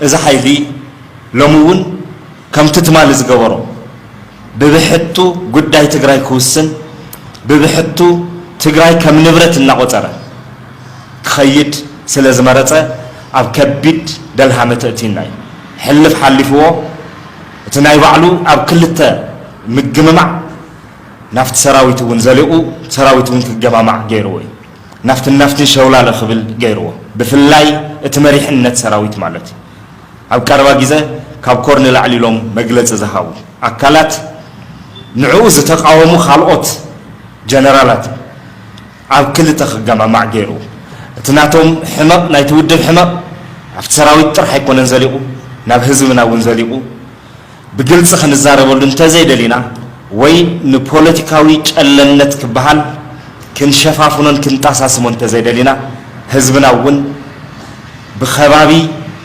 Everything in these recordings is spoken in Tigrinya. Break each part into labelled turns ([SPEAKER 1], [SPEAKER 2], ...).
[SPEAKER 1] እዚ ሓይሊ ሎሚ እውን ከምቲ ትማሊ ዝገበሮ ብብሕቱ ጉዳይ ትግራይ ክውስን ብብሕቱ ትግራይ ከም ንብረት እናቆፀረ ክኸይድ ስለ ዝመረፀ ኣብ ከቢድ ደልሃመ ተእቲና እዩ ሕልፍ ሓሊፍዎ እቲ ናይ ባዕሉ ኣብ ክልተ ምግምማዕ ናብቲ ሰራዊት እውን ዘሊቑ ሰራዊት እውን ክገማማዕ ገይርዎ እዩ። ናብትን ናብትን ሸውላለ ክብል ገይርዎ ብፍላይ እቲ መሪሕነት ሰራዊት ማለት እዩ። ኣብ ቀረባ ግዘ ካብ ኮር ንላዕሊ ኢሎም መግለፂ ዝሃቡ ኣካላት ንዕኡ ዝተቓወሙ ካልኦት ጀነራላት፣ ኣብ ክልተ ክገማማዕ ገይሩ። እቲ ናቶም ሕመቕ ናይቲ ውድብ ሕመቕ ኣብቲ ሰራዊት ጥራሕ ኣይኮነን ዘሊቑ፣ ናብ ህዝብና እውን ዘሊቑ። ብግልፂ ክንዛረበሉ እንተዘይደሊና ወይ ንፖለቲካዊ ጨለምነት ክበሃል ክንሸፋፍኖን ክንጣሳስሞን እንተዘይደሊና ህዝብና እውን ብኸባቢ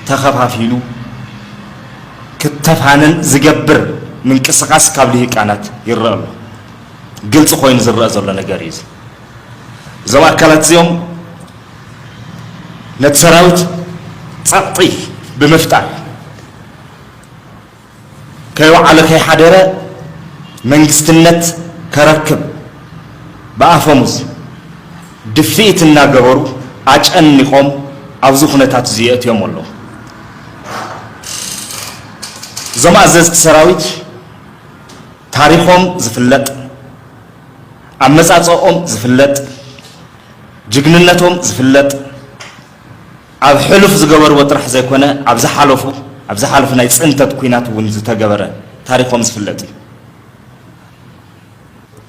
[SPEAKER 1] ተኸፋፊሉ ክተፋነን ዝገብር ምንቅስቓስ ካብ ልሂቃናት ይረኣ ኣሎ። ግልፂ ኮይኑ ዝረአ ዘሎ ነገር እዩ። እዞም ኣካላት እዚኦም ነቲ ሰራዊት ፀቕጢ ብምፍጣር ከይወዓለ ከይሓደረ መንግስትነት ከረክብ ብኣፈሙዝ ድፍኢት እናገበሩ ኣጨኒቆም ኣብዚ ኩነታት እዚ የእትዮም ኣለዉ እዞም ኣዘዝቲ ሰራዊት ታሪኾም ዝፍለጥ፣ ኣመጻጽኦም ዝፍለጥ፣ ጅግንነቶም ዝፍለጥ ኣብ ሕሉፍ ዝገበርዎ ጥራሕ ዘይኮነ ኣብ ዝሓለፉ ኣብ ዝሓለፉ ናይ ጽንተት ኩናት እውን ዝተገበረ ታሪኾም ዝፍለጥ እዩ።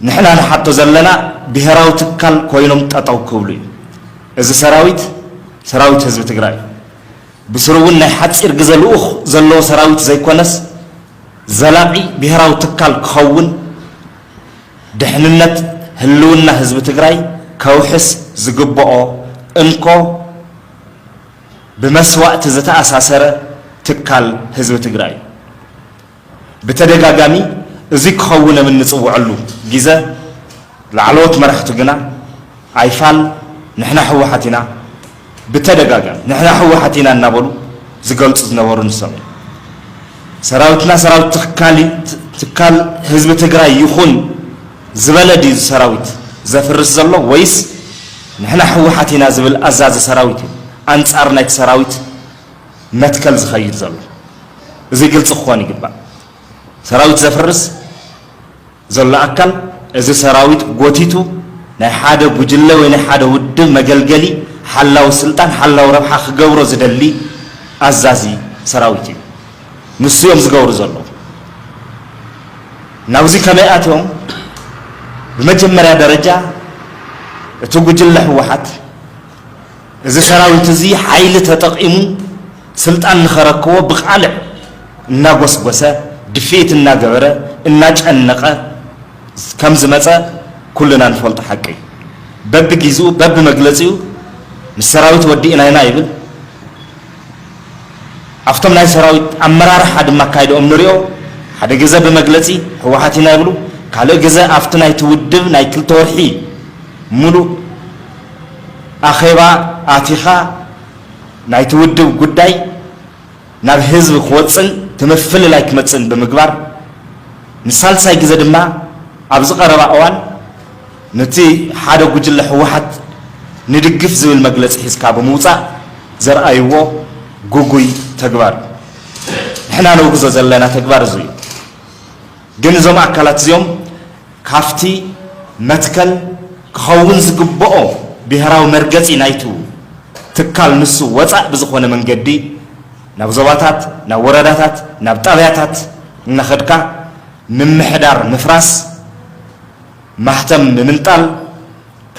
[SPEAKER 1] ንሕና ንሓቶ ዘለና ብሄራዊ ትካል ኮይኖም ጠጠው ክብሉ እዩ። እዚ ሰራዊት ሰራዊት ህዝቢ ትግራይ እዩ። ብስሩ እውን ናይ ሓፂር ግዘ ልኡኽ ዘለዎ ሰራዊት ዘይኮነስ ዘላቒ ብሄራዊ ትካል ክኸውን ድሕንነት ህልውና ህዝቢ ትግራይ ከውሕስ ዝግበኦ እንኮ ብመስዋእቲ ዝተኣሳሰረ ትካል ህዝቢ ትግራይ እዩ። ብተደጋጋሚ እዙይ ክኸውን እብ እንፅወዐሉ ጊዘ ላዕለዎት መራሕቱ ግና ኣይፋል ንሕና ህወሓት ኢና፣ ብተደጋጋሚ ንሕና ህወሓት ኢና እናበሉ ዝገልፁ ዝነበሩ ንሶም እዮም። ሰራዊትና ሰራዊት ትካል ትካል ህዝቢ ትግራይ ይኹን ዝበለ ድዩ ሰራዊት ዘፍርስ ዘሎ ወይስ ንሕና ህወሓት ኢና ዝብል ኣዛዚ ሰራዊት እዩ ኣንፃር ናይቲ ሰራዊት መትከል ዝኸይድ ዘሎ? እዚ ግልፂ ክኾን ይግባእ። ሰራዊት ዘፍርስ ዘሎ ኣካል እዚ ሰራዊት ጎቲቱ ናይ ሓደ ጉጅለ ወይ ናይ ሓደ ውድብ መገልገሊ ሓላዊ ስልጣን ሓላዊ ረብሓ ክገብሮ ዝደሊ ኣዛዚ ሰራዊት እዩ ንሱ እዮም ዝገብሩ ዘለዉ ናብዚ ከመይ ኣትዮም ብመጀመርያ ደረጃ እቲ ጉጅለ ህወሓት እዚ ሰራዊት እዚ ሓይሊ ተጠቂሙ ስልጣን ንኸረክቦ ብቓልዕ እናጎስጎሰ፣ ድፍኢት እናገበረ፣ እናጨነቐ ከም ዝመጸ ኩልና ንፈልጦ ሓቂ እዩ። በብጊዝኡ በብመግለጺኡ ምስ ሰራዊት ወዲእና ኢና ይብል፣ ኣብቶም ናይ ሰራዊት ኣመራርሓ ድማ ኣካይዳኦም ንሪኦ፣ ሓደ ግዘ ብመግለጺ ህወሓት ኢና ይብሉ፣ ካልእ ግዘ ኣብቲ ናይቲ ውድብ ናይ ክልተ ወርሒ ሙሉእ ኣኼባ ኣቲኻ፣ ናይቲ ውድብ ጉዳይ ናብ ህዝቢ ክወጽእን እቲ ምፍልላይ ክመጽእን ብምግባር፣ ንሳልሳይ ግዘ ድማ ኣብዚ ቀረባ እዋን ኑቲ ሓደ ጉጅለ ህወሓት ንድግፍ ዝብል መግለጺ ሒዝካ ብምውጻእ ዘርኣይዎ ጉጉይ ተግባር እዩ። ንሕና ነውግዞ ዘለና ተግባር እዙይ እዩ። ግን እዞም ኣካላት እዚኦም ካብቲ መትከል ክኸውን ዝግበኦ ብሄራዊ መርገጺ ናይቱ ትካል ንሱ ወጻእ ብዝኾነ መንገዲ ናብ ዞባታት፣ ናብ ወረዳታት፣ ናብ ጣብያታት እናኸድካ ምምሕዳር ምፍራስ፣ ማህተም ምምንጣል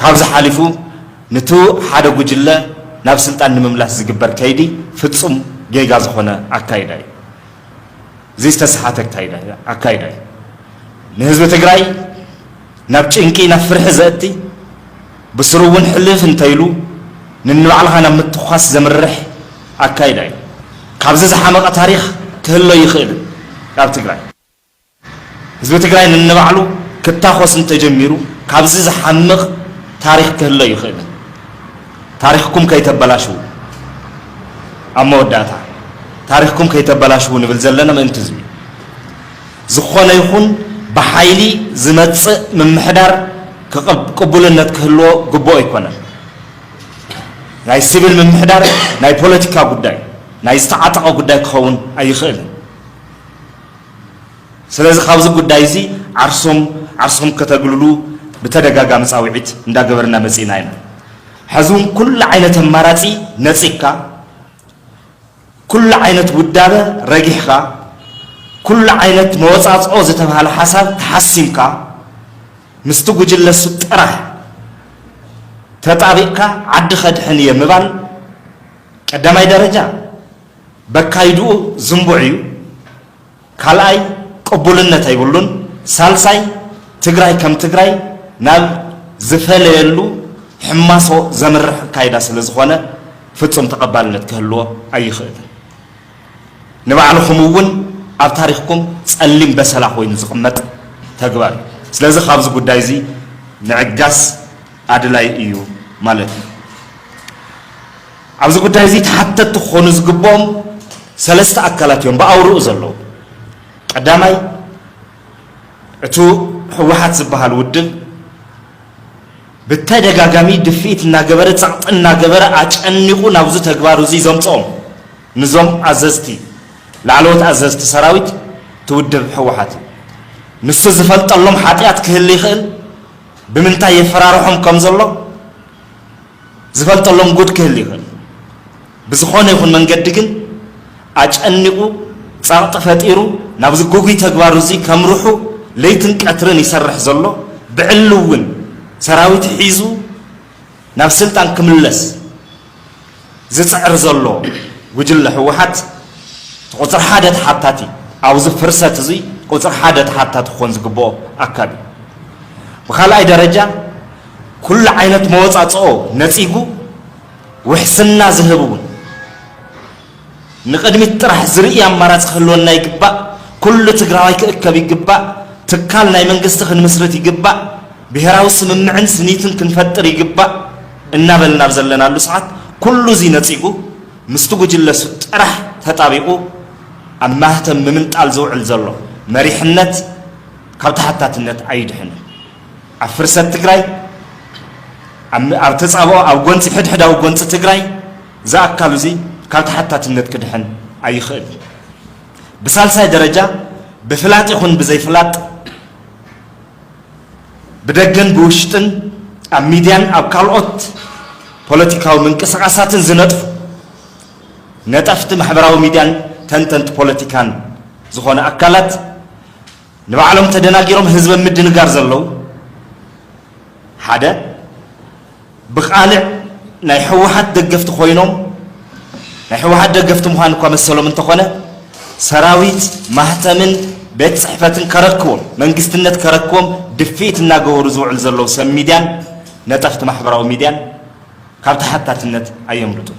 [SPEAKER 1] ካብዚ ሓሊፉ ንቱ ሓደ ጉጅለ ናብ ስልጣን ንምምላስ ዝግበር ከይዲ ፍጹም ጌጋ ዝኾነ ኣካይዳ እዩ። እዚ ዝተሰሓተ ኣካይዳ እዩ። ንህዝቢ ትግራይ ናብ ጭንቂ ናብ ፍርሒ ዘእቲ ብስሩ እውን ሕልፍ እንተይሉ ንንባዕልኻ ናብ ምትኳስ ዘምርሕ ኣካይዳ እዩ። ካብዚ ዝሓመቐ ታሪኽ ክህሎ ኣይኽእልን ኣብ ትግራይ። ህዝቢ ትግራይ ነንባዕሉ ክታኾስ እንተጀሚሩ ካብዚ ዝሓምቕ ታሪኽ ክህሉ ኣይኽእልን። ታሪኽኩም ከይተበላሽዉ። ኣብ መወዳእታ ታሪኽኩም ከይተበላሽዉ ንብል ዘለና ምእንቲ ህዝቢ እዩ። ዝኾነ ይኹን ብሓይሊ ዝመፅእ ምምሕዳር ቅቡልነት ክህልዎ ግቡእ ኣይኮነን። ናይ ሲቪል ምምሕዳር ናይ ፖለቲካ ጉዳይ፣ ናይ ዝተዓጠቐ ጉዳይ ክኸውን ኣይኽእልን። ስለዚ ካብዚ ጉዳይ እዚ ዓርሶም ዓርስኹም ከተግልሉ ብተደጋጋሚ ፃውዒት እንዳገበርና መፂእና ኢና። ሐዚ እውን ኩሉ ዓይነት ኣማራፂ ነፂግካ፣ ኩሉ ዓይነት ውዳበ ረጊሕኻ፣ ኩሉ ዓይነት መወፃፅኦ ዝተብሃለ ሓሳብ ተሓሲምካ ምስቲ ጉጅለ ሱብ ጥራሕ ተጣቢቕካ ዓዲ ከድሕን እየ ምባል ቀዳማይ ደረጃ በካይድኡ ዝንቡዕ እዩ ካልኣይ ቅቡልነት ኣይብሉን ሳልሳይ ትግራይ ከም ትግራይ ናብ ዝፈለየሉ ሕማሶ ዘምርሕ ኣካይዳ ስለ ዝኾነ ፍፁም ተቐባልነት ክህልዎ ኣይኽእልን ንባዕልኹም እውን ኣብ ታሪኽኩም ፀሊም በሰላ ኮይኑ ዝቕመጥ ተግባር እዩ ስለዚ ካብዚ ጉዳይ እዚ ምዕጋስ ኣድላይ እዩ ማለት እዩ ኣብዚ ጉዳይ እዚ ተሓተትቲ ክኾኑ ዝግበኦም ሰለስተ ኣካላት እዮም ብኣውርኡ ዘለዉ። ቀዳማይ እቱ ህወሓት ዝበሃል ውድብ ብተደጋጋሚ ድፍኢት እናገበረ ፀቕጢ እናገበረ ኣጨኒቑ ናብዙ ተግባር እዙይ ዘምፅኦም ንዞም ኣዘዝቲ ላዕለዎት ኣዘዝቲ ሰራዊት እቲ ውድብ ህወሓት እዩ። ንሱ ዝፈልጠሎም ሓጥያት ክህሊ ይኽእል ብምንታይ የፈራርሖም ከም ዘሎ ዝፈልጠሎም ጉድ ክህሊ ይኽእል ብዝኾነ ይኹን መንገዲ ግን ኣጨኒቑ ጸቕጢ ፈጢሩ ናብዚ ጉጉይ ተግባሩ እዚ ከምርሑ ለይትን ቀትርን ይሰርሕ ዘሎ ብዕሊ እውን ሰራዊት ሒዙ ናብ ስልጣን ክምለስ ዝጽዕር ዘሎ ጉጅለ ህወሓት እቲ ቁጽሪ ሓደ ተሓታቲ ኣብዚ ፍርሰት እዚ ቁጽሪ ሓደ ተሓታቲ ክኾን ዝግብኦ ኣካል እዩ ብካልኣይ ደረጃ ኩሉ ዓይነት መወፃፅኦ ነፂጉ ውሕስና ዝህብ እውን ንቕድሚት ጥራሕ ዝርኢ ኣማራፂ ክህልወና ይግባእ። ኩሉ ትግራዋይ ክእከብ ይግባእ። ትካል ናይ መንግስቲ ክንምስርት ይግባእ። ብሄራዊ ስምምዕን ስኒትን ክንፈጥር ይግባእ እናበልና ኣብ ዘለናሉ ሰዓት ኩሉ እዙይ ነፂጉ ምስቲ ጉጅለሱ ጥራሕ ተጣቢቑ ኣብ ማህተም ንምንጣል ዝውዕል ዘሎ መሪሕነት ካብ ተሓታትነት ኣይድሕንን። ኣብ ፍርሰት ትግራይ፣ ኣብ ተጻብኦ፣ ኣብ ጎንጺ ሕድሕዳዊ ጎንጺ ትግራይ ዝኣካሉ እዚ ካብ ተሓታትነት ክድሕን ኣይኽእል። ብሳልሳይ ደረጃ ብፍላጥ ይኹን ብዘይፍላጥ ብደገን ብውሽጥን ኣብ ሚድያን ኣብ ካልኦት ፖለቲካዊ ምንቅስቓሳትን ዝነጥፉ ነጠፍቲ ማሕበራዊ ሚድያን ተንተንቲ ፖለቲካን ዝኾነ ኣካላት ንባዕሎም ተደናጊሮም ህዝቢ ኣብ ምድንጋር ዘለዉ ሓደ ብቃልዕ ናይ ህወሓት ደገፍቲ ኮይኖም ናይ ህወሓት ደገፍቲ ምዃን እኳ መሰሎም እንተኾነ ሰራዊት ማህተምን ቤት ፅሕፈትን ከረክቦም መንግስትነት ከረክቦም ድፍኢት እናገበሩ ዝውዕሉ ዘለዉ ሰብ ሚድያን ነጠፍቲ ማሕበራዊ ሚድያን ካብ ተሓታትነት ኣየምልጡን።